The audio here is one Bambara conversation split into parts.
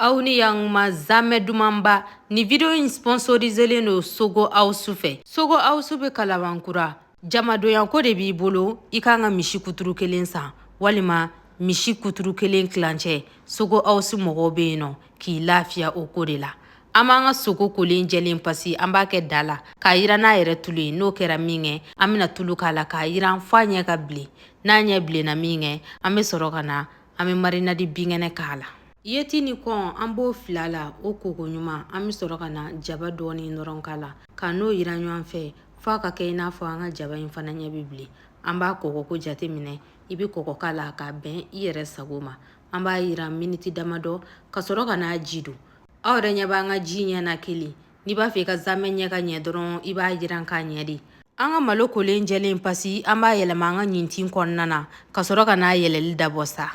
aw ni yanguma zamɛ dumanba ni video in sponsoriselen don sogo awusu fɛ sogo awusu bɛ kalabankura jamadonyako de b'i bolo i kan ka misi kuturu kelen san walima misi kuturu kelen tilancɛ sogo awusu mɔgɔw bɛ yen nɔ k'i lafiya o ko de la an b'an ka sogo kolen jɛlen pasi an b'a kɛ da la k'a yiran n'a yɛrɛ tulu ye n'o kɛra min kɛ an bɛna tulu k'a la k'a yiran fɔ a ɲɛ ka bilen n'a ɲɛ bilenna min kɛ an bɛ sɔrɔ ka na an bɛ marinadi binkɛnɛ k'a la Yeti ni kɔn an b'o fil'a la o ko koɲuman an bɛ sɔrɔ ka na jaba dɔɔnin dɔrɔn k'a la ka n'o yiran ɲɔgɔn fɛ f'a ka kɛ i n'a fɔ an ka jaba in fana ɲɛ bɛ bilen an b'a kɔgɔko jateminɛ i bɛ kɔgɔ k'a la k'a bɛn i yɛrɛ sago ma an b'a yiran miniti damadɔ ka sɔrɔ ka n'a ji don aw yɛrɛ ɲɛ b'an ka ji ɲɛ na kelen n'i b'a fɛ i ka zamɛ ɲɛ ka ɲɛ dɔrɔn i b'a yiran ka ɲɛ dɛ an ka malo kolen jɛlen pasi an b'a yɛlɛma an ka ɲintin kɔnɔna na ka sɔrɔ ka n'a yɛlɛli dabɔ sa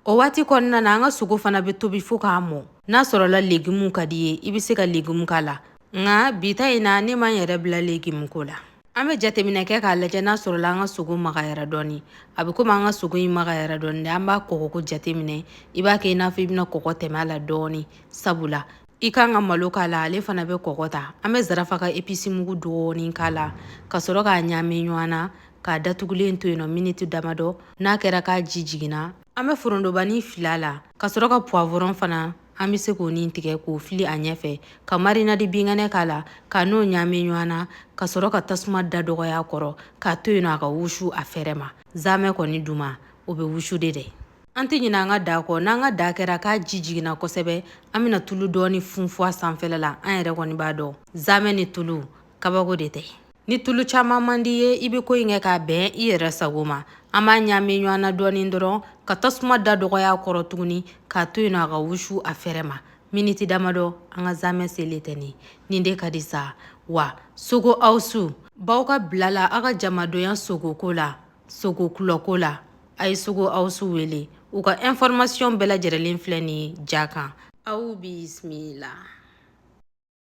O waati kɔnɔna na an ka sogo fana bɛ tobi fo ka mɔ n'a sɔrɔla legumu ka d'i ye i bɛ se ka legumu k'a la nka bi ta in na ne ma n yɛrɛ bila legumu ko la an bɛ jateminɛ kɛ k'a lajɛ n'a sɔrɔla an ka sogo magayara dɔɔni a bɛ komi an ka sogo in magayara dɔɔni dɛ an b'a kɔgɔko jateminɛ i b'a kɛ i n'a fɔ i bɛna kɔgɔ tɛmɛ a la dɔɔni sabula i kan ka malo k'a la ale fana bɛ kɔgɔ ta an bɛ zarafa ka episi mugu dɔɔni k'a la ka sɔrɔ k'a ɲaami ɲɔgɔn na k'a datugulen to yen nɔ miniti damadɔ n'a kɛra k'a ji jiginna an bɛ forondobani fil'a la ka sɔrɔ ka puwavɔrɔn fana an bɛ se k'o ni tigɛ k'o fili a ɲɛfɛ ka marinadi binkɛnɛ k'a la ka n'o ɲaami ɲɔgɔn na ka sɔrɔ ka tasuma da dɔgɔya a kɔrɔ k'a to yen nɔ a ka wusu a fɛrɛ ma zamɛ kɔni duman o bɛ wusu de dɛ An tɛ ɲinɛ an ka da kɔ n'an ka da kɛra k'a ji jiginna kosɛbɛ an bɛna tulu dɔɔni funfun a sanfɛla la an yɛrɛ kɔni b'a dɔn zamɛ ni tulu kabako de tɛ ni tulu caman man d'i ye i bɛ ko in kɛ k'a bɛn i yɛrɛ sago ma an b'a ɲaami ɲɔgɔn na dɔɔni dɔrɔn ka tasuma da dɔgɔya a kɔrɔ tuguni k'a to yen a ka wusu a fɛrɛ ma miniti damadɔ an ka zamɛ selen tɛ nin nin de ka di sa wa sogo awusu b'aw ka bila la aw ka jamadonya sogoko la sogo kulɔko la a ye sogo awusu wele u ka ɛnfɔrɔmasiyɔn bɛɛ lajɛrɛlen filɛ nin ye ja kan aw bisimila